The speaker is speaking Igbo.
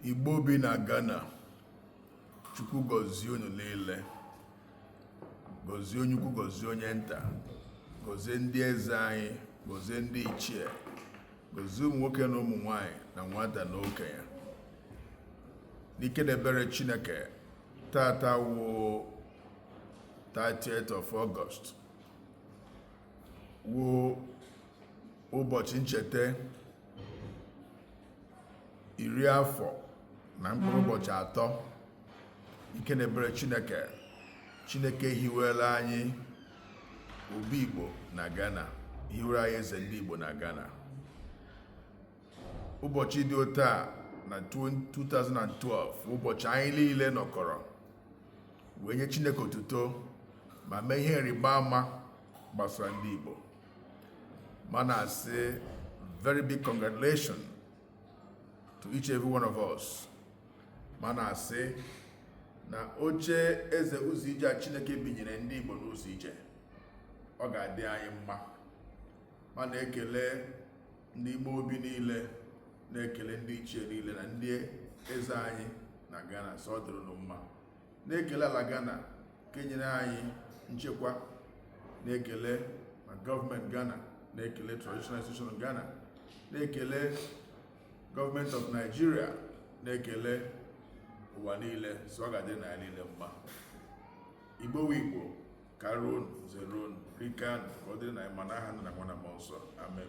Igbo bi na Ghana Chukwu gọzie unu niile gọzie onye ukwu gọzie onye nta gọzie ndị eze anyị gọzie ndị ichie gọzie ụmụ nwoke na ụmụ nwanyị na nwata na okenye n'ike na ebere Chineke taata wụ 30th of August wụ ụbọchị ncheta iri afọ na mkpụrụ ụbọchị atọ ike na ebere chineke chineke hiwela anyị obi igbo na ghana hiwere anyị eze ndị igbo na ghana ụbọchị dị otu a na 2012 ụbọchị anyị niile nọkọrọ wee nye chineke otuto ma mee ihe ịrịba ama gbasara ndị igbo ma na-asị very big congratulations to each every one of us ma na-asị na oche eze ụzọ ije a chineke binyere ndị igbo n'ụzọ ije ọ ga-adị anyị mma ma na-ekele ndị ime obi niile na-ekele ndị ichie niile na ndị eze anyị na ghana sị ọ dịrị unu mma na-ekele ala Ghana nke nyere anyị nchekwa na-ekele ma gọọmenti Ghana na-ekele traditional institution Ghana na-ekele gọọmenti of Nigeria na-ekele ụwa niile sị ọ ga-adịnụ anyị niile mma igbo wụ igbo karuonụ zeruonụ rikaanụ ka ọ dịrịnụ anyị mma n'aha nna na nwa na mmụọ nsọ amen